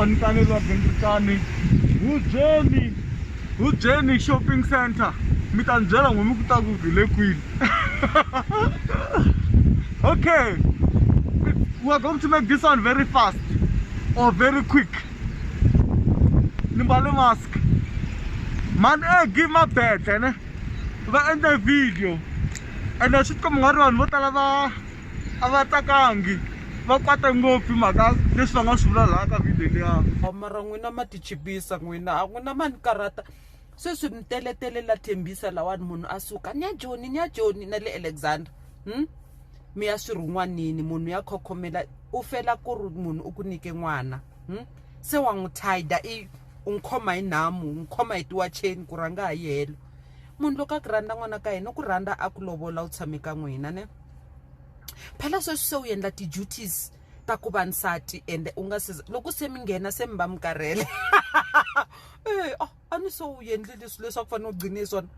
onitani log ndikani hubyeni hubyeni shopping center mi ta ni byela n'wini ku ta ku hi le kwini okay we're going to make this one very fast or very quick ni mbale mask mani e give ma bete ne va endle video ene swi tikomba nga ri vanhu vo tala va a va tsakangi va kwate ngopfu hi mhaka leswi va nga swi vula laha ka video liya mara n'wina ma tichipisa n'wina a n'wina ma ni karhata sweswi mi teletele la thembisa lawani munhu a suka ni ya joni ni ya joni na le alexander hmm? mi ya swi rhun'wanini munhu ya khokhomela u fela ku ri munhu u ku nyike n'wana hmm? se wa n'wi tida i u n'wi khoma hi nhamu n'wi khoma hi tiwacheni ku rhanga ha yi helo munhu loko a ku rhandza n'wana ka yena u ku rhandza a ku lovola u tshame ka n'wina ne phela sweswi se u endla ti-duties ta ku va nsati ende u nga se loko se mi nghena se mi va mi karhele e a a ni se u endle leswi leswi a ku fanele u gcine hi swona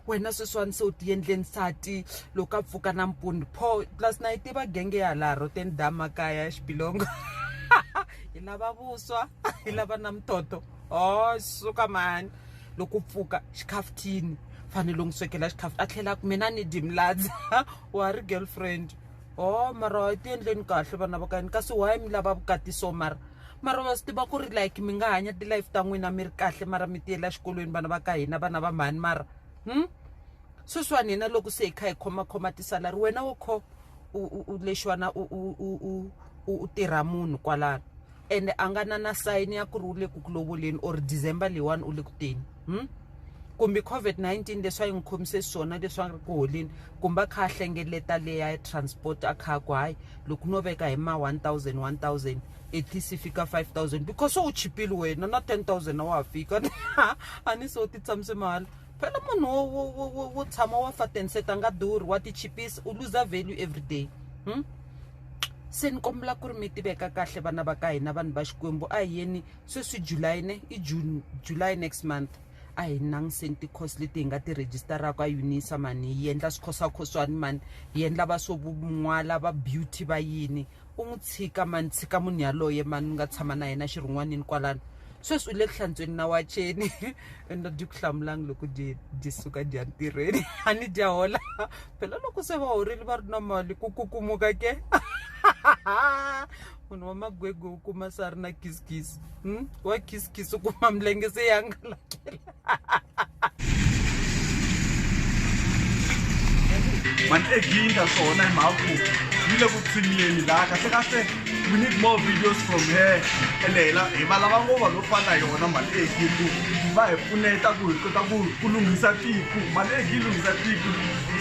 wena sweswiwani se u ti endle nsati loko a pfuka nampundzu pho plus na yi tiva genge ya laha roteni da makaya ya xibilongo hi lava vuswa hi lava na muthotho o suka mani loko pfuka xikhafuthini fanele n'wi swekela xikhafuthi a tlhela ku mina ni dimladza wa ri girlfriend o oh, mara wa ti endleni kahle vana va kani kasi why mi lava vukati so mara mara wa swi tiva ku ri like mi nga hanya ti-life ta n'wina mi ri kahle mara mi tiyela xikolweni vana va ka hina vana va mhani mara hmm? sweswiwani hina loko se hi kha hi khomakhoma tisalari wena wo kho u lexiwana u tirha munhu kwalano ende a nga na na sayini ya ku ri u le ku ku lovoleni or december leyiwani u le ku teni hmm? kumbe covid-19 leswi a yi n'wi khomise swona leswi a ri ku holeni kumbe a kha a hlengeleta leya transport a kha a ku hayi loko no veka hi ma 1000 1000 at least fika 5000 because u chipile wena na 10000 a wa ha fika a ni so ti tshamise mahala phela munhu wo tshama wa fatenseta nga durhi wa ti chipisa u luza value every day hmm? se ni kombela ku ri mi tiveka kahle vana va ka hina vanhu va xikwembu a hi yeni sweswi july ne i june july next month a hi nangiseni ti-course leti hi nga ti rejistaraka unisa mani hi endla swikhosakhoswani mani hi endla va swo n'wala va beauty va yini u n'wi tshika mani tshika munhu yaloye mani ni nga tshama na yena xirhun'wanini kwalano sweswi u le ku hlantsweni na wacheni ende dyi ku hlamulanga loko dyi dyi suka dya ntirhweni a ni dya hola phela loko se va horile va ri na mali ku kukumuka ke munhu wa magwegwe u kuma se a ri na kisikisi hmm? wa kisikisi u kuma milenge se ya ngalakela mani eginda swona hi mhaku yi le ku tshiniyeni laha kahle kahle We need more videos from her Leila hi va lava ngo vanhu vo fana na yona mhani e hi ku va hi pfuneta ku hi kota ku ku lunghisa tiko mhani e hi lunghisa tiko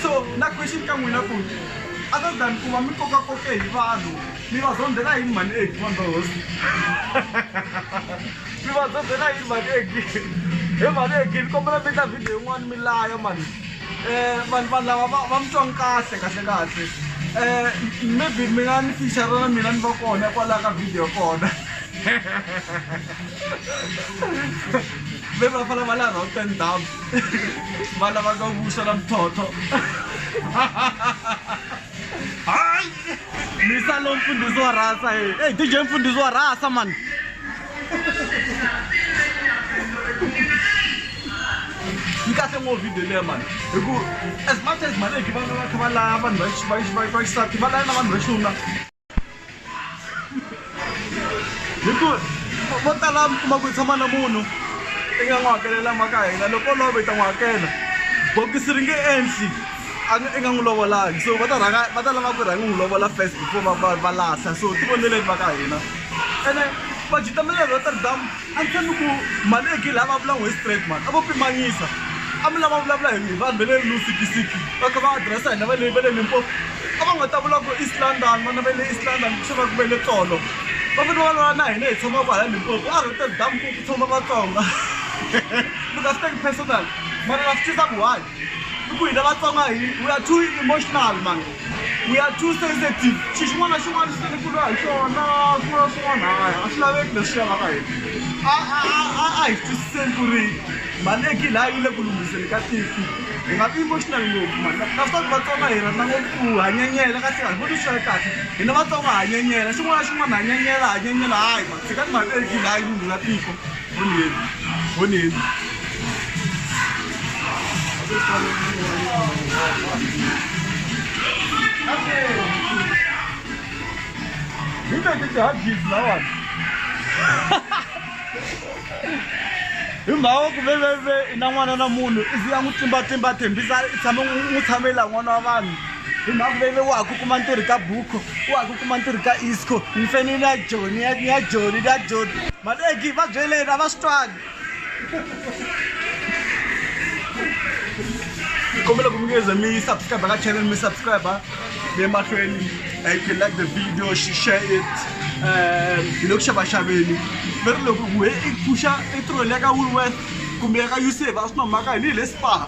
so na question ka n'wina ku other than ku va mi koka koke hi vanhu mi va zondzela yini mhani e vanhu va hosi mi va zondzela yini mhani e he mhani e ni kombela mi endla video yin'wana mi laya mhani vanhu vanhu lava va va mi twanga kahle kahle kahle um maybe mi nga ni fichara na mina ni va kona kwalaho ka video kona maybe va fana va la routen dam va lavaka vuxa na mitlhotlho hayi misa lo mfundhisi wa rasa e dj mfundhisi wa rasa mani yi kahle ngopfu video leya mani hi ku as much as mali leki va nga va kha va laya vanhu va xisati va laya na vanhu va xinuna hi ku vo tala mi kuma ku tshama na munhu i nga n'wi hakelela maka hina loko love i ta n'wi hakela bokisi ri nge endli i nga n'wi lovolangi so va ta rhanga va ta lava ku rhanga n'wi lovola first before va va va lahla so ti voneleni maka hina ene va dyi ta mali Rotterdam a ni tshembi ku mali ya Gill a va vulangi hi straight mara a vo pimanyisa a mi lava vulavula hi hi vanhu va le Lusikisiki va kha va address hina va le va le Limpopo a va nga ta vula ku East London vana va le East London ku swi va ku ve le tsolo va fane va lwa na hina hi tshama kwala Limpopo a Rotterdam ku ku tshama Vatsonga mi nga swi teki personal mara na swi tisa ku why i ku hina vatsonga hi we are too emotional man we are too sensitive xi xin'wana na xin'wana xi tele ku lwa hi xona ku lwa swin'wana haya a swi laveki leswi ya lava hina a a a hi twisiseni ku ri mali ya gile a yi le ku lunghiseni ka tiko hi nga vi emotional ngopfu mani naswaku vatsonga hi rhandza ngopfu ku ha nyenyela ka tlhela hi voni swi ri kahle hina vatsonga ha nyenyela xin'wana na xin'wana ha nyenyela ha nyenyela hayi mani tshikani mali ya gile a yi lunghisa tiko hi mhaka ku veveve i na n'wana na munhu i ze a n'wi tlimbatlimba thembisa i tshame n'wi n'wi tshamela n'wana wa vanhu hi mhaka veve wa ha ku kuma ntirhi ka buko wa ha ku kuma ntirhi ka isco ni fane ni ya joni ya ni ya joni ni ya joni maleki va byeleni a va swi twani ni kombela ku mi ngeze mi subscribe ka channel mi subscribe mi emahlweni uh, you can like the video she share it um hi le ku xavaxaveni mi ri loko ku he i pfuxa i tirholi ya ka woolworth kumbe ya ka usa va swi nomaka hi ni hi le spar